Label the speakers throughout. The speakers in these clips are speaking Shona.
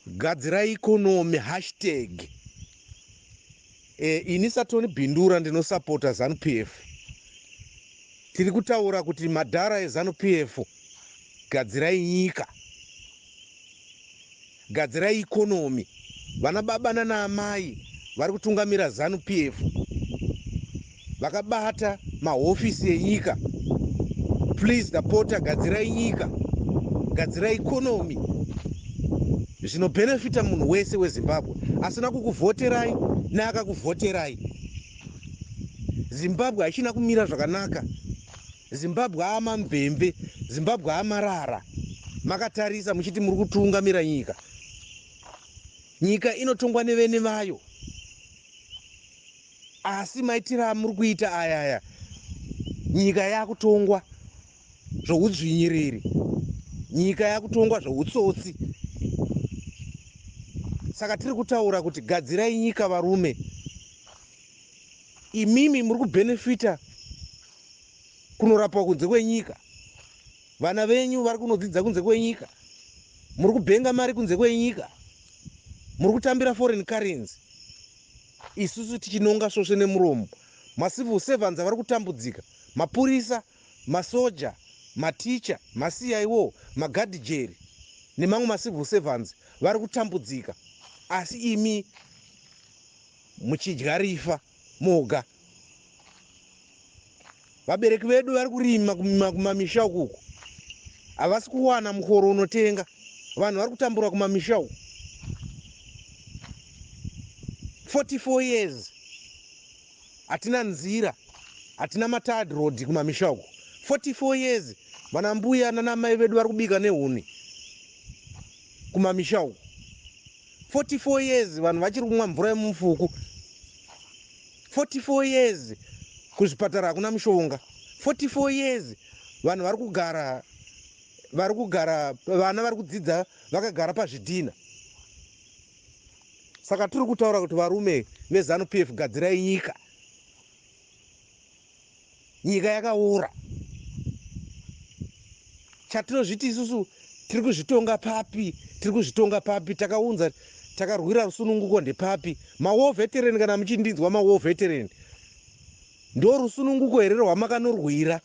Speaker 1: gadzira economy hashtag e, ini satoni bindura ndinosapota zanu p f tiri kutaura kuti madhara ezanu p f gadzirai nyika gadzirai economy vana baba nana amai vari kutungamira zanu p f vakabata mahofisi enyika please ndapota gadzirai nyika gadzirai economy zvinobhenefita munhu wese wezimbabwe asina kukuvhoterai neakakuvhoterai zimbabwe haichina kumira zvakanaka zimbabwe aamamvemve zimbabwe amarara makatarisa muchiti muri kutungamira nyika nyika inotongwa nevene vayo Asi maitiro amuri kuita ayaya nyika yakutongwa zvoudzvinyiriri, nyika yakutongwa zvoutsotsi. Saka tiri kutaura kuti gadzirai nyika varume. Imimi muri kubenefita kunorapwa kunze kwenyika, vana venyu vari kunodzidza kunze kwenyika, muri kubenga mari kunze kwenyika, muri kutambira foreign currency. Isusu tichinonga svosve nemuromo. Macivil servants vari kutambudzika. Mapurisa, masoja, mateacher, maCIO, magadhijeri nemamwe macivil servants vari kutambudzika asi imi muchidya rifa moga. vabereki vedu vari kurima kumamisha uku uku havasi kuwana mukoro unotenga vanhu vari kutambura kumamisha uku 44 years hatina nzira hatina matad road kumamisha uku 44 years vana mbuya nanamai vedu vari kubika nehuni kumamisha uku 44 years vanhu vachiri kumwa mvura yemumufuku 44 years kuzvipatara hakuna mushonga 44 years vanhu vari kugara vari kugara vana vari kudzidza vakagara pazvidhina saka tiri kutaura kuti varume vezanu p f gadzirai nyika nyika yakaora chatinozviti isusu tiri kuzvitonga papi tiri kuzvitonga papi takaunza takarwira rusununguko ndepapi mawar veteran kana muchindinzwa mawar veteran ndo rusununguko here rwamakanorwira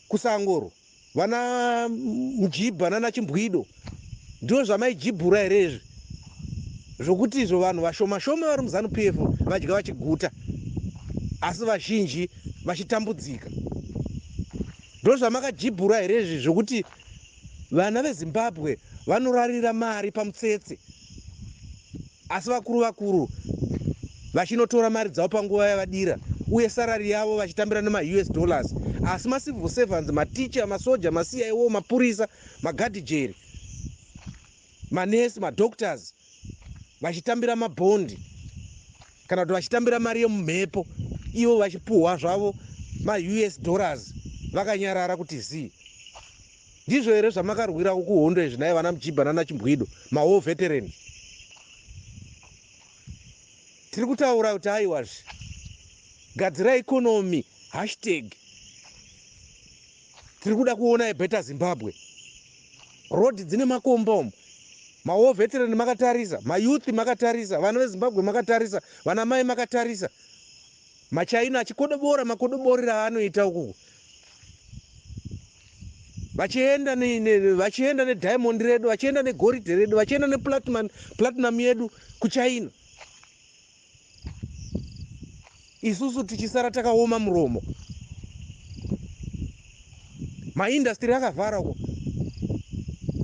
Speaker 1: kusangoro Vana Mjibha nana Chimbwido ndizvo zvamaijibhura here izvi zvokuti izvo vanhu vashoma shoma vari muZanu PF vadya vachiguta asi vazhinji vachitambudzika ndozvamakajibhura here izvi zvokuti vana veZimbabwe vanorarira mari pamutsetse asi vakuru vakuru vachinotora mari dzavo panguva yavadira uye sarari yavo vachitambira nemaus dollars asi macivil servants maticha masoja maciwo mapurisa magadhijeri manesi madoctors vachitambira mabhondi kana kuti vachitambira mari yemumhepo ivo vachipuhwa zvavo maus dollars vakanyarara kuti zii Ndizvo here zvamakarwirawo kuhondo izvi nhai vana Mjibha nana Chimbwido, ma war veteran? Tiri kutaura kuti aiwazve gadzira economy hashtag tiri kuda kuona a better Zimbabwe. Road dzine makomba umu ma war veteran makatarisa, ma youth makatarisa, vana veZimbabwe makatarisa, vana mai makatarisa. Machaina achikodobora makodoborera aanoita ukuku vachienda ne, ne, vachienda nediamond redu vachienda negoridhe redu vachienda neplatinum platinum yedu kuchina isusu tichisara takaoma muromo maindastry akavhara uko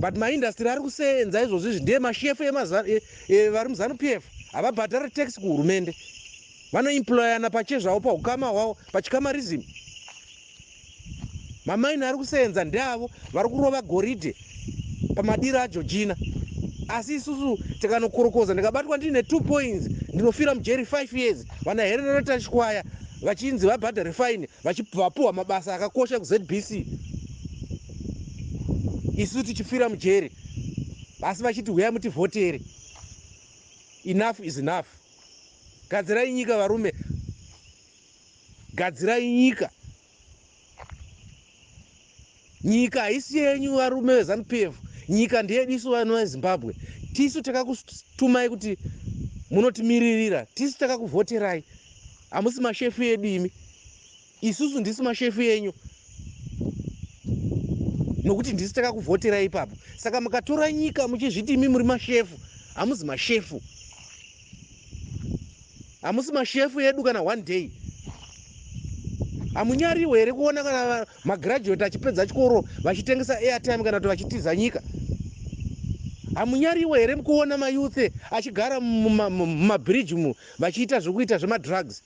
Speaker 1: but maindastry ari kuseenza izvozvo izvi ndiye mashefu e, e, vari muzanu p f havabhadhare tax kuhurumende vanoemployana pache zvavo pahukama hwavo pachikamarism mamaini ari kuseenza ndeavo vari kurova goridhe pamadiro ajojina asi isusu tikanokorokoza ndikabatwa ndiine two points ndinofira mujeri five years vana hererero tachikwaya vachinzi vabhadhare faini vapuhwa mabasa akakosha kuzbc isu tichifira mujeri asi vachiti huyai mutivhotere enough is enough Gadzirai nyika varume, gadzirai nyika. Nyika haisi yenyu varume veZanu PF, nyika ndeyedu isu vanhu veZimbabwe. Tisu takakutumai kuti munotimiririra, tisu takakuvhoterai, hamusi mashefu edu imi. Isusu ndisu mashefu enyu nokuti ndisu takakuvhoterai ipapo. Saka mukatora nyika muchizviti imi muri mashefu, hamuzi mashefu. Hamusi mashefu edu kana one day. Hamunyariwe here kuona kana magraduate achipedza chikoro vachitengesa airtime kana kuti vachitiza nyika? Hamunyariwe here kuona mayouth achigara mumabridge mu vachiita zvokuita zvemadrugs?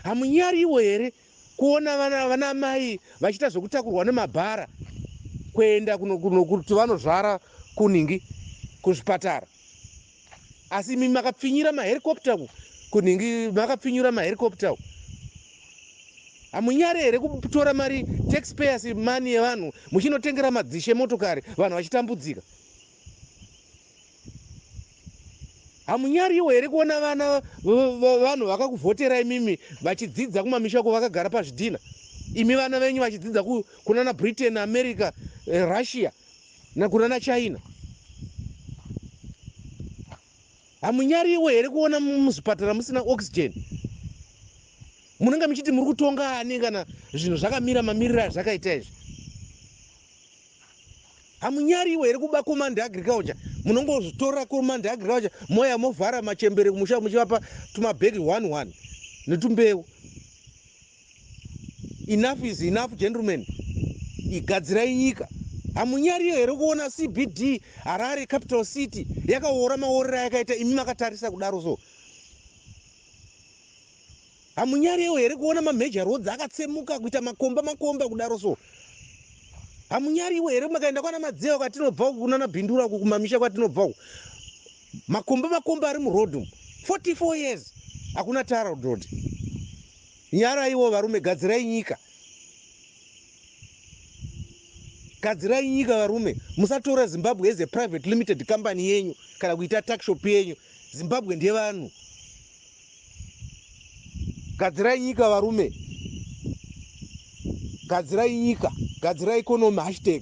Speaker 1: Hamunyariwo here kuona vana vana mai vachiita zvekutakurwa nemabhara kuenda kuno kuno kuti vanozvara kunhingi kuzvipatara asi imi makapfinyira maherikopta ku kunhingi makapfinyura maherikopta ku hamunyare here kutora mari taxpayers money yevanhu muchinotengera madzishe motokari vanhu vachitambudzika Hamunyariwo here kuona vana vevanhu vakakuvhotera imimi vachidzidza kumamisha uko vakagara pazvidhina? Imi vana venyu vachidzidza kunana Britain, America, eh, Russia nakunana China. Hamunyariwo here kuona muzvipatara musina oxygen? Munenge muchiti muri kutonga ani kana zvinhu zvakamira mamiriro azvakaita izvi? Hamunyariwo here kuba command agriculture munongotora command agriculture moya movhara machembere kumusha muchivapa tumabhegi one one netumbeu. Enough is enough gentlemen, igadzirai nyika. Hamunyariyo here kuona CBD Harare capital city yakaora maorera yakaita imi makatarisa kudaro so Hamunyarewo here kuona ma major roads akatsemuka kuita makomba makomba kudaro so. Hamunyariwo here makaenda kwana Madzewa kwatinobva uku kunana Bindura uku kumamisha kwatinobva uku. Makomba makomba ari mu road umu. 44 years hakuna tara road. Nyaraiwo varume gadzirai nyika. Gadzirai nyika varume musatora Zimbabwe as a private limited company yenyu kana kuita tuck shop yenyu. Zimbabwe ndevanhu. Gadzirai nyika varume. Gadzirai nyika. Gadzirai economy hashtag.